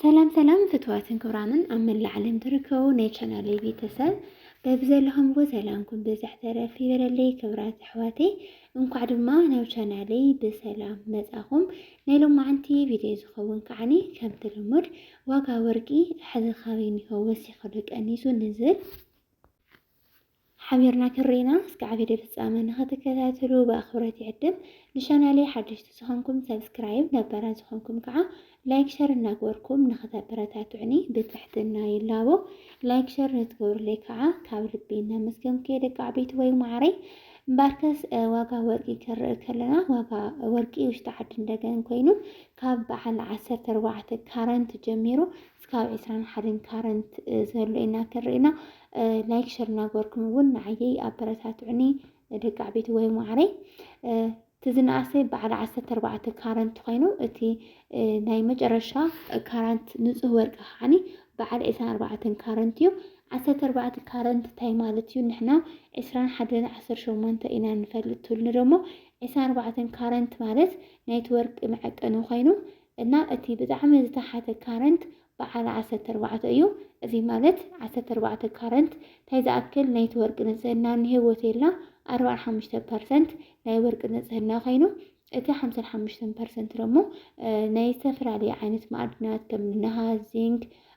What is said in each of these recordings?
ሰላም ሰላም ፍትዋትን ክብራምን ኣብ መላእ ዓለም ትርከቡ ናይ ቻናለይ ቤተሰብ በብዘለኹምዎ ሰላምኩም ብዝሕ ተረፍ ይበለለይ። ክብራት ኣሕዋተይ እንኳዕ ድማ ናብ ቻናለይ ብሰላም መጻኹም። ናይ ሎማዓንቲ ቪድዮ ዝኸውን ከዓኒ ከምቲ ልሙድ ዋጋ ወርቂ ሕዚ ካበይ ኒሆ ወሲኹ ዶ ቀኒሱ ንዝብል ሓቢርና ክንሪኢና እስካዕ ቪድዮ ፍጻመ ንክትከታተሉ ብኣክብሮት ይዕድም ንቻናለይ ሓደሽቲ ዝኮንኩም ሰብስክራይብ ነባራት ዝኮንኩም ከዓ ላይክ ሸር እናግበርኩም ንክተበረታትዑኒ ብትሕትና ይላቦ ላይክ ሸር ንትገብርለይ ከዓ ካብ ልቢ እናመስገንኩ ደቂ ዓበይቲ ወይ ማዕረይ እምበኣርከስ ዋጋ ወርቂ ክንርኢ ከለና ዋጋ ወርቂ ውሽጢ ዓዲ እንደገን ኮይኑ ካብ በዓል ዓሰርተ ኣርባዕተ ካረንት ጀሚሩ እስካብ ዕስራን ሓደን ካረንት ዘሎ ኢና ክንርኢ ኢና ላይክ ሸር እናገበርኩም እውን ንዓየይ ኣበረታትዑኒ ደቂ ዓበይቲ ወይ ማዕረይ እቲ ዝነኣሰ በዓል ዓሰርተ ኣርባዕተ ካረንት ኮይኑ እቲ ናይ መጨረሻ ካራንት ንፁህ ወርቂ ከዓኒ በዓል ዕስራን ኣርባዕተን ካረንት እዩ ዓሰርተ ኣርባዕተ ካረንት እንታይ ማለት እዩ ንሕና ዕስራን ሓደን ዓሰርተ ሸሞንተ ኢና ንፈልጥ ትብሉኒ ደሞ ዕስራን ኣርባዕተን ካረንት ማለት ናይቲ ወርቂ መዐቀኒ ኮይኑ እና እቲ ብጣዕሚ ዝተሓተ ካረንት በዓል ዓሰርተ ኣርባዕተ እዩ እዚ ማለት ዓሰርተ ኣርባዕተ ካረንት ታይ ዝኣክል ናይቲ ወርቂ ንፅህና እኒሀ ወቴላ ኣርብዓን ሓሙሽተን ፐርሰንት ናይ ወርቂ ንፅህና ኮይኑ እቲ ሓምሳን ሓሙሽተን ፐርሰንት ደሞ ናይ ዝተፈላለዩ ዓይነት ማዕድናት ከም ነሃስ ዚንክ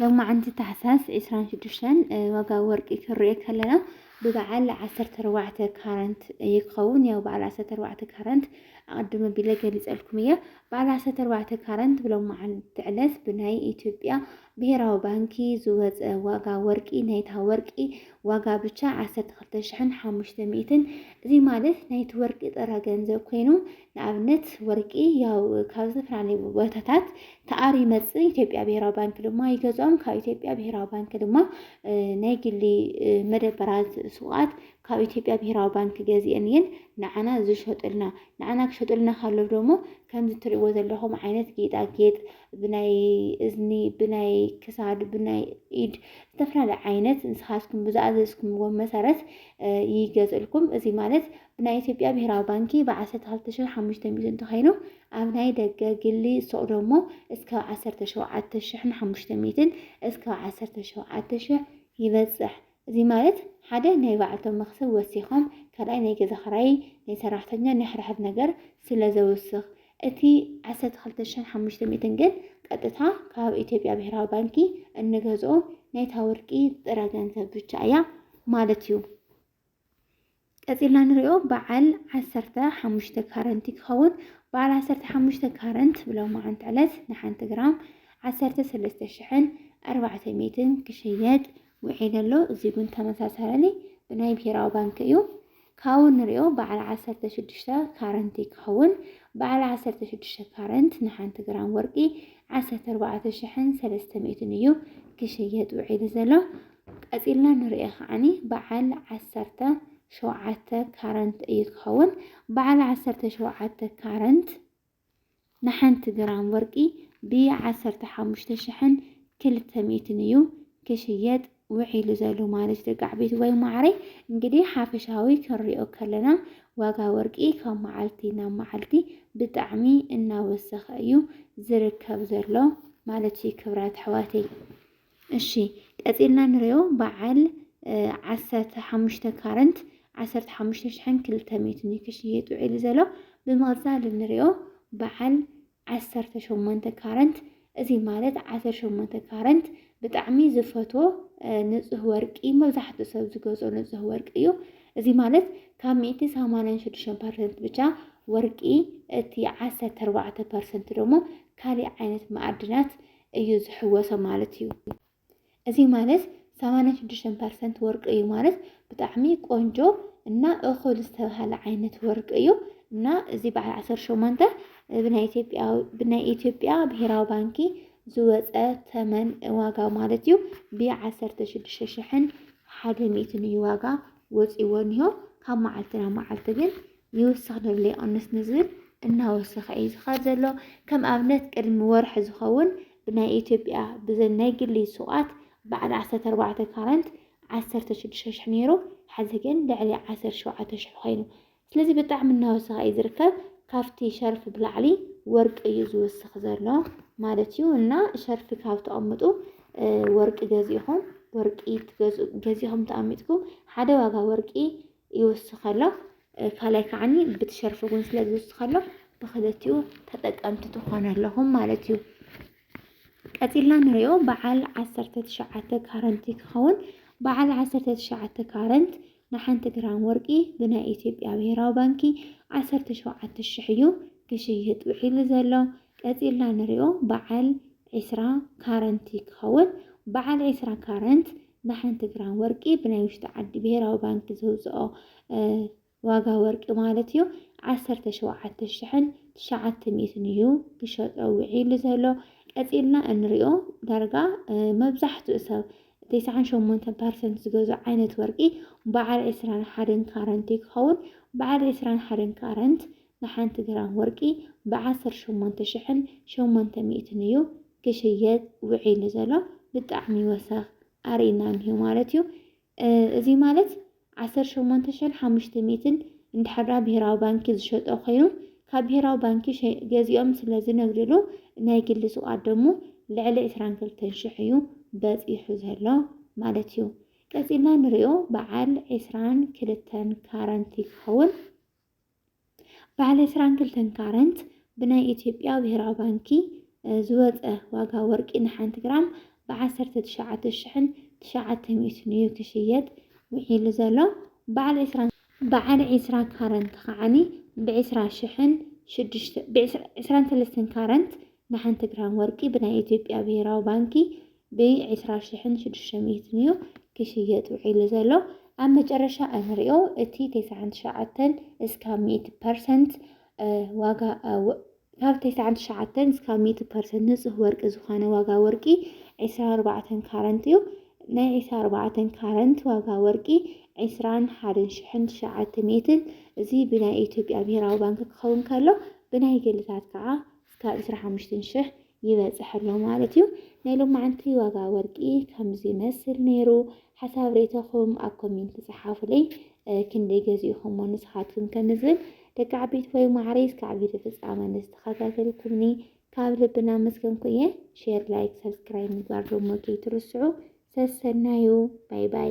ሎማዕንቲ ታሕሳስ ዕስራን ሽዱሽተን ዋጋ ወርቂ ክንሪኦ ከለና ብበዓል ዓሰርተ ኣርባዕተ ካራንት እዩ ክኸውን ያው በዓል ዓሰርተ ኣርባዕተ ካራንት ኣቐድመ ቢለ ገሊፀልኩም እየ በዓል ዓሰርተ ኣርባዕተ ካራንት ብሎማዕንቲ ዕለት ብናይ ኢትዮጵያ ብሄራዊ ባንኪ ዝወፀ ዋጋ ወርቂ ናይታ ወርቂ ዋጋ ብቻ ዓሰርተ ክልተ ሽሕን ሓሙሽተ ሚእትን እዚ ማለት ናይቲ ወርቂ ጥረ ገንዘብ ኮይኑ ንኣብነት ወርቂ ያው ካብ ዝተፈላለዩ ቦታታት ተኣሪ ይመፅእ ኢትዮጵያ ብሄራዊ ባንኪ ድማ ይገዝኦም ካብ ኢትዮጵያ ብሄራዊ ባንኪ ድማ ናይ ግሊ መደበራት ሱቃት ካብ ኢትዮጵያ ብሄራዊ ባንኪ ገዚኤን እየን ንዓና ዝሸጡልና ንዓና ክሸጡልና ካለው ደሞ ከምዚ እትሪእዎ ዘለኹም ዓይነት ጌጣጌጥ ብናይ እዝኒ ብናይ ክሳድ ብናይ ኢድ ዝተፈላለዩ ዓይነት ንስኻትኩም ብዝኣዘዝኩምዎ መሰረት ይገዝእልኩም። እዚ ማለት ናይ ኢትዮጵያ ብሄራዊ ባንኪ ብ ዓሰርተ ክልተ ሽሕ ሓሙሽተ ሚእቲ እንተኸይኑ ኣብ ናይ ደገ፣ ግሊ፣ ሱቕ ደሞ እስካብ ዓሰርተ ሸውዓተ ሽሕን ሓሙሽተ ሚእትን እስካብ ዓሰርተ ሸውዓተ ሽሕ ይበጽሕ። እዚ ማለት ሓደ ናይ ባዕልቶም መኽሰብ ወሲኾም ካልኣይ ናይ ገዛ ክራይ፣ ናይ ሰራሕተኛ ናይ ሕድሕድ ነገር ስለ ዘውስኽ። እቲ ዓሰርተ ክልተ ሽሕን ሓሙሽተ ሚእትን ግን ቀጥታ ካብ ኢትዮጵያ ብሄራዊ ባንኪ እንገዝኦ ናይታ ወርቂ ጥረ ገንዘብ ብቻ እያ ማለት እዩ። ቀፂልና ንሪኦ በዓል ዓሰርተ ሓሙሽተ ካረንት ክኸውን በዓል ዓሰርተ ሓሙሽተ ካረንት ብሎማዓንቲ ዕለት ንሓንቲ ግራም ዓሰርተ ሰለስተ ሽሕን ኣርባዕተ ሚእትን ክሽየጥ ውዒሉ ኣሎ እዚ እውን ተመሳሳሊ ብናይ ብሄራዊ ባንኪ እዩ ካብኡ ንሪኦ በዓል ዓሰርተ ሽዱሽተ ካረንት ክኸውን በዓል ዓሰርተ ሽዱሽተ ካረንት ንሓንቲ ግራም ወርቂ ዓሰርተ ኣርባዕተ ሽሕን ሰለስተ ሚእትን እዩ ክሽየጥ ውዒሉ ዘሎ ቀጺልና ንርእዮ ከዓኒ በዓል ዓሰርተ ሸውዓተ ካረንት እዩ ክኸውን። በዓል ዓሰርተ ሸውዓተ ካረንት ንሓንቲ ግራም ወርቂ ብዓሰርተ ሓሙሽተ ሽሕን ክልተ ሚእትን እዩ ክሽየጥ ውዒሉ ዘሎ ማለት ደቂ ዓበይቲ ወይ ማዕረይ እንግዲህ ሓፈሻዊ ክንሪኦ ከለና ዋጋ ወርቂ ካብ መዓልቲ ናብ መዓልቲ ብጣዕሚ እናወሰኸ እዩ ዝርከብ ዘሎ ማለት እዩ ክብራት ኣሕዋተይ እሺ ቀጺልና ንሪኦ በዓል ዓሰርተ ሓሙሽተ ካረንት ዓሰርተ ሓሙሽተ ሽሕን ክልተ ሚእትን እዩ ክሽየጥ ውዒሉ ዘሎ ብምቕጻል ንሪኦ በዓል ዓሰርተ ሸሞንተ ካረንት እዚ ማለት ዓሰርተ ሸሞንተ ካረንት ብጣዕሚ ዝፈቶ ንፁህ ወርቂ መብዛሕትኡ ሰብ ዝገዝኦ ንፁህ ወርቂ እዩ። እዚ ማለት ካብ ሚእቲ ሰማንያን ሽዱሽተ ፐርሰንት ብቻ ወርቂ እቲ ዓሰርተ ኣርባዕተ ፐርሰንት ደግሞ ካሊእ ዓይነት መኣድናት እዩ ዝሕወሶ ማለት እዩ። እዚ ማለት ሰማንያ ሽዱሽተ ፐርሰንት ወርቂ እዩ ማለት ብጣዕሚ ቆንጆ እና እኹል ዝተብሃለ ዓይነት ወርቂ እዩ እና እዚ በዓል ዓሰርተ ሸሞንተ ብናይ ኢትዮጵያ ብናይ ኢትዮጵያ ብሄራዊ ባንኪ ዝወፀ ተመን ዋጋ ማለት እዩ ብዓሰርተ ሽዱሽተ ሽሕን ሓደ ሚእትን እዩ ዋጋ ወፂዎ እኒሆ ካብ መዓልቲ ናብ መዓልቲ ግን ይውስኽ ንብሎ ይቕንስ ንዝብል እናወሰኸ እዩ ዝኸድ ዘሎ። ከም ኣብነት ቅድሚ ወርሒ ዝኸውን ብናይ ኢትዮጵያ ብዘን ናይ ግሊ ሱቓት በዓል ዓሰርተ ኣርባዕተ ካራንት ዓሰርተ ሽዱሽተ ሽሕ ነይሩ፣ ሐዚ ግን ልዕሊ ዓሰርተ ሸውዓተ ሽሕ ኾይኑ። ስለዚ ብጣዕሚ እናወሰኸ እዩ ዝርከብ። ካብቲ ሸርፊ ብላዕሊ ወርቂ እዩ ዝውስኽ ዘሎ ማለት እዩ እና ሸርፊ ካብ ተቐምጡ ወርቂ ገዚእኹም ወርቂ ገዚእኹም ተቐሚጥኩም ሓደ ዋጋ ወርቂ ይውስኸሎ ካልኣይ ከዓኒ ብቲ ሸርፊ እውን ስለ ዝውስኸሎ ብክልቲኡ ተጠቀምቲ ትኾኑ ኣለኹም ማለት እዩ። ቀፂልና ንሪኦ በዓል ዓሰርተ ትሽዓተ ካረንት ክኸውን በዓል ዓሰርተ ትሽዓተ ካረንት ንሓንቲ ግራም ወርቂ ብናይ ኢትዮጵያ ብሄራዊ ባንኪ ዓሰርተ ሸውዓተ ሽሕ እዩ ክሽየጥ ውዒሉ ዘሎ። ቀጺልና ንሪኦ በዓል ዕስራ ካረንት ክኸውን። በዓል ዕስራ ካረንት ብሓንቲ ግራም ወርቂ ብናይ ውሽጢ ዓዲ ብሄራዊ ባንኪ ዘውፅኦ ዋጋ ወርቂ ማለት እዩ ዓሰርተ ሸውዓተ ሽሕን ትሽዓተ ሚእትን እዩ ክሸጦ ውዒሉ ዘሎ። ቀጺልና እንሪኦ ዳርጋ መብዛሕትኡ ሰብ ተስዓን ሸሞንተን ፐርሰንት ዝገዝኦ ዓይነት ወርቂ በዓል ዕስራን ሓደን ካረንት እዩ ክኸውን። በዓል ዕስራን ሓደን ካረንት ንሓንቲ ግራም ወርቂ ብ ዓሰርተ ሸሞንተ ሽሕን ሸሞንተ ሚእትን እዩ ክሽየጥ ውዒሉ ዘሎ ብጣዕሚ ወሰኽ ኣርኢና እንሂ ማለት እዩ እዚ ማለት ዓሰርተ ሸሞንተ ሽሕን ሓሙሽተ ሚእትን እንድሕራ ብሄራዊ ባንኪ ዝሸጦ ኮይኑ ካብ ብሄራዊ ባንኪ ገዚኦም ስለ ዝነግድሉ ናይ ግሊ ሱቓት ደሞ ልዕሊ ዕስራን ክልተን ሽሕ እዩ በፂሑ ዘሎ ማለት እዩ ቀፂልና ንሪኦ በዓል ዕስራን ክልተን ካረንቲ ክኸውን በዓል ዕስራን ክልተን ካረንት ብናይ ኢትዮጵያ ብሄራዊ ባንኪ ዝወፀ ዋጋ ወርቂ ንሓንቲ ግራም ብዓሰርተ ትሽዓተ ሽሕን ትሽዓተ ሚእትን እዩ ክሽየጥ ውዒሉ ዘሎ በዓል ዕስራን በዓል ዕስራ ካረንት ከዓኒ ብዕስራ ሽሕን ሽዱሽተ ብዕስራ ዕስራን ሰለስተን ካረንት ንሓንቲ ግራም ወርቂ ብናይ ኢትዮጵያ ብሄራዊ ባንኪ ብ ዕስራ ሽሕን ሽዱሽተ ሚእትን እዩ ክሽየጥ ውዒሉ ዘሎ። ኣብ መጨረሻ እንሪኦ እቲ ተስዓን ትሽዓተን እስካብ ሚእቲ ፐርሰንት ዋጋ ካብ ተስዓን ትሽዓተን እስካብ ሚእቲ ፐርሰንት ንፁህ ወርቂ ዝኾነ ዋጋ ወርቂ ዕስራን ኣርባዕተን ካረንት እዩ። ናይ ዕስራን ኣርባዕተን ካረንት ዋጋ ወርቂ ዕስራን ሓደን ሽሕን ትሽዓተ ሚእትን እዚ ብናይ ኢትዮጵያ ብሄራዊ ባንኪ ክኸውን ከሎ ብናይ ግልታት ከዓ ክሳብ ዕስራ ሓሙሽተ ሽሕ ይበጽሕ ኣሎ ማለት እዩ። ናይ ሎማዓንቲ ዋጋ ወርቂ ከምዚ ይመስል ነይሩ። ሓሳብ ሬተኹም ኣብ ኮሜንት ጸሓፉለይ። ክንደይ ገዚእኹሞ ንስኻትኩም ከምዝብል ደቂ ዓበይቲ ወይ ማዕረይ እስከ ዓበይቲ ፍጻመ ንዝተኸታተልኩምኒ ካብ ልቢ እናመስገንኩ እየ። ሼር፣ ላይክ፣ ሰብስክራይብ ምግባር ደሞ ከይትርስዑ። ሰሰናዩ ባይ ባይ።